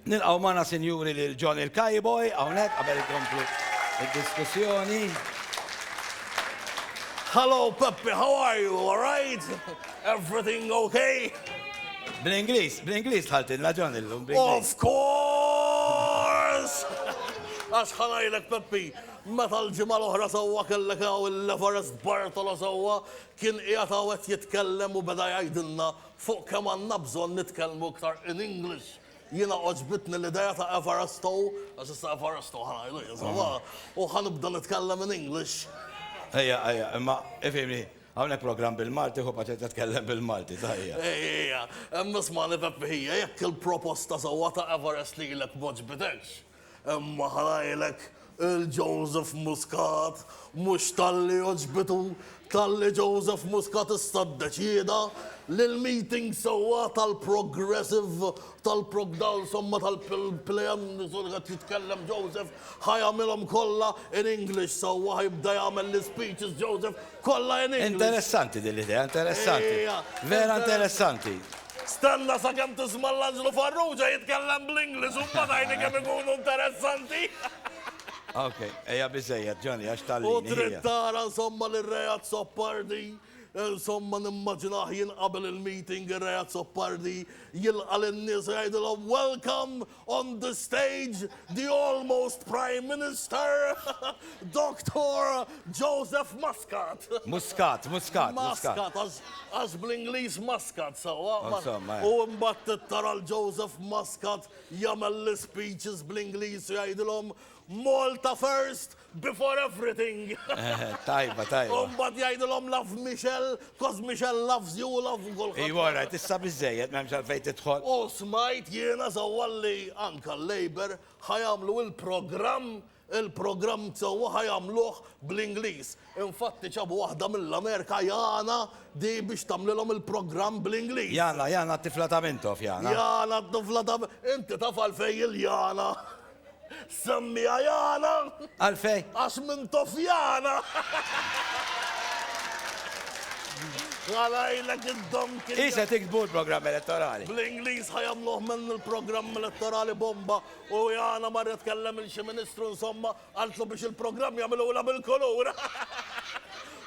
Nilqgħu magħna sinjuri lil John il-Kajboj hawnhekk qabel ikomplu id-diskussjoni. Hello Peppi, how are you? All right? Everything okay? Bl-Ingliż, bl-Ingliż tħaltilna John illum. Of course! Għax ħanajlek Peppi, meta l-ġimgħa l-oħra sewwa kellek hawn il-Everest Bartolo sewwa kien qiegħed hawn qed jitkellem u beda jgħidilna Fuq kemm għandna bżonn nitkellmu iktar in English. Jiena għoġbitni l-idea ta' Everesto, għax issa Everesto ħa ngħidu jien sabbaħ, u ħa nibda nitkellem in English. Ejja, ejja, imma ifhimni, hawnhekk programm bil-Malti, ħu paċenzja tkellem bil-Malti, sa ejja. Ejja, imma ismagħni Peppi, hija jekk il-proposta sewwa ta' Everest lilek m'għoġbitekx, Hemm oħrajnek il-Joseph Muscat mhux talli għoġbitu, talli Joseph Muscat issa ddeċieda li l-meeting sewwa tal-progressive, tal-progda insomma tal-PLM, insomma qed jitkellem Joseph, ħa jagħmilhom kollha in English sewwa, ħa jibda jagħmel l-ispeeches Joseph, Kollha in English. Interessanti din l-idea, interessanti. Vera interessanti. Stenna sakemm tisma' l-Anġlu Farrugia jitkellem bl-Ingliż u mbagħad għidni kemm ikunu interessanti. Ok, hija biżejjed, Johnny, għax tgħallini. U trid tara insomma li r-Re Azzopardi, insomma nimmaġinah jien qabel il-meeting ir-Re Azzopardi jilqa' lin-nies u jgħidilhom welcome On the stage, the almost Prime Minister, Doctor Joseph Muscat. Muscat, Muscat, Muscat. Muscat, għax bl-Ingliż Muscat, sawa. Eh. U mbatt tara l-Joseph Muscat jagħmel l-speeches bl-Ingliż u jgħidilhom Malta first, Before everything. Tajba, tajba. U mbagħad jgħidilhom love Michelle, cos Michelle loves you, love kulħadd. Iva, rajt, issa biżejjed m'hemmx għalfejn tidħol. U smajt jiena sewwa li anke l-Labour ħa jagħmlu il-programm il-programm sewwa ħa jagħmluh bl-Ingliż. Infatti ġabu waħda mill-Amerika Jana di biex tagħmlilhom il-programm bl-Ingliż. Jana, Jana t-tifla ta' Mintoff, Jana. Jana t-tifla ta' Inti taf għalfejn il-Jana. Semmiha Jana. Għalfejn? Għax minn Tofjana. Ħalajlek id-dom kien. Hi se tiktbu l-programm elettorali. Bl-Ingliż ħa jagħmluh minn il-programm elettorali bomba u Jana marret tkellem lil xi ministru insomma qaltlu biex il-programm jagħmilulha bil-kulur.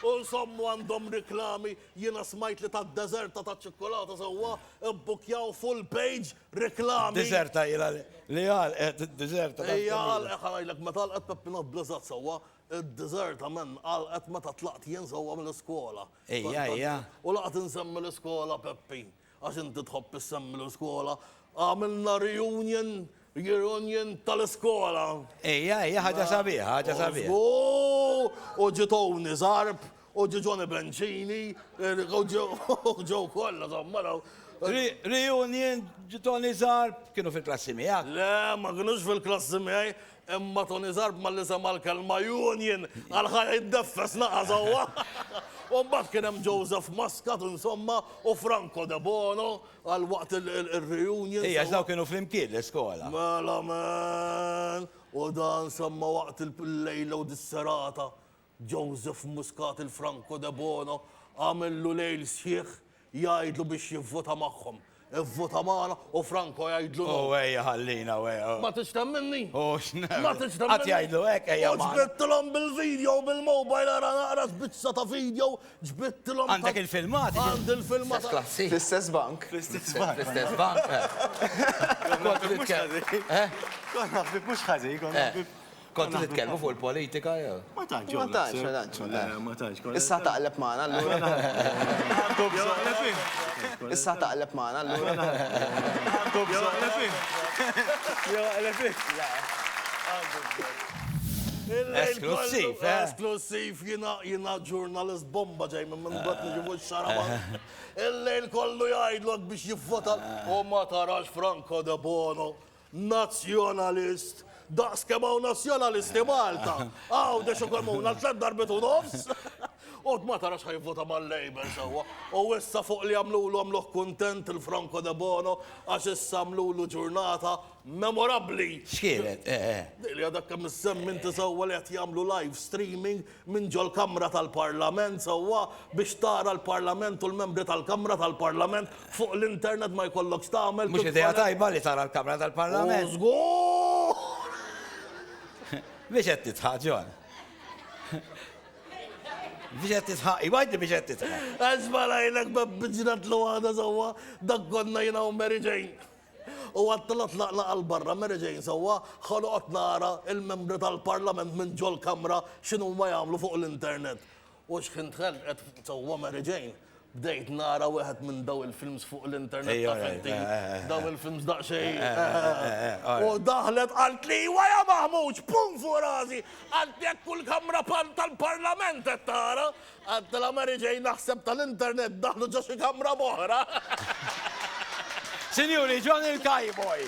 U nsommu għandhom riklami jiena smajt li tad-deżerta taċ-ċikkulata sewwa bbukkjaw full page Reklami. Diżerta ilha li għalqet id-diżerta. Hija għalqet ħanajlek meta għalqet Peppina Blizzard sewwa, id-diżerta men għalqet meta tlaqt jien sewwa mill-iskola. Hija hija. U laqgħet insemmi l-iskola Peppi, għax inti tħobb issemmi l-iskola. Għamilna reunion, year union tal-iskola. Hija hija ħaġa sabiħa, ħaġa sabiħa. U ġiet Owni Zarb U ġie Johnny Bencini, u ġew kollha, żomma raw. Reunion ġi Tony Zarb, kienu fil-klassi miegħek? Le, ma kienux fil-klassi miegħi, imma Tony Zarb ma li sema l-kelma Union, għal ħajja jiddeffes naqa' sewwa. U mbagħad kien hemm Joseph Muscat, insomma, u Franco De Bono għal waqt il-reunion. Ejja, daw kienu flimkien l-iskola. Mela men, u dan semma waqt il-lejla u dis-serata. Joseph Muscat il-Franco Debono għamillu lejl sħiħ jgħidlu biex jivvota magħhom. Ivvota magħna u Franco jgħidlu no. U ejja ħallina u ejja. Ma tix temminni? U x'na. Ma tix temminni? Qatt jgħidlu hekk ejja. U ġbittilhom bil-video bil-mobile ara naqra sbizza ta' video ġbittilhom. Għandek il-filmat? Għandi il-filmat. Klassi. Fl-istess bank. Fl-istess bank. Fl-istess bank. Kont nitkellim. Kont nafib mhux ħażin, kont nafib. Kontu titkellmu fuq il-politika jew? Ma tantx. Ma tantx, ma tantx. Eh, ma tantx. Issa taqleb magħna allura. Issa taqleb magħna allura. Esklussiv, eh? Esklussiv, jina ġurnalist bomba ġej minn minn għat nġibu xaraba. Il-lejl kollu jgħidlok biex jivvota u ma tarax Franco de Bono. Nazzjonalist! Daqs kemm hawn Nazzjonalisti Malta! Għawdex ukoll muna tliet darbiet u nofs! Qgħod ma tarax ħajvvota mal-Labour sewwa. U issa fuq li għamlulu għamluh kuntent il-Franco Debono għax issa għamlulu ġurnata memorabbli! X'kienet? Dik li għadek kemm issemmi inti sewwa li qed jagħmlu live streaming minn ġol-Kamra tal-Parlament sewwa biex tara l-Parlament u l-membri tal-Kamra tal-Parlament fuq l-internet ma jkollokx tagħmel Mhux idea tajba li tara l-Kamra tal-Parlament. Żgur! Biex qed tidħaq, John? Biex qed tidħaq? Iva għidli biex qed tidħaq. Għax barajnek b'bibġna tluwada sewwa, dak konna jiena u Mary Jane. U għad telgħet laqlaqa 'l barra Mary Jane sewwa ħoloqot nara il-membri tal-parlament minn ġol-kamra x'inhuma jagħmlu fuq l-internet. U xħin dħalt qed sewwa Mary Jane, bdejt nara wieħed minn daw il-films fuq l-internet taf inti, daw il-films daqsxejn U daħlet qaltli iwa ja Maħmud, xpun fuq rasi, qaltli hekk kull kamra tal-parlament qed tara. Għedtilha Mary Jane naħseb tal-internet daħlu ġo xi kamra b'oħra. Sinjuri, John il-Cowboy!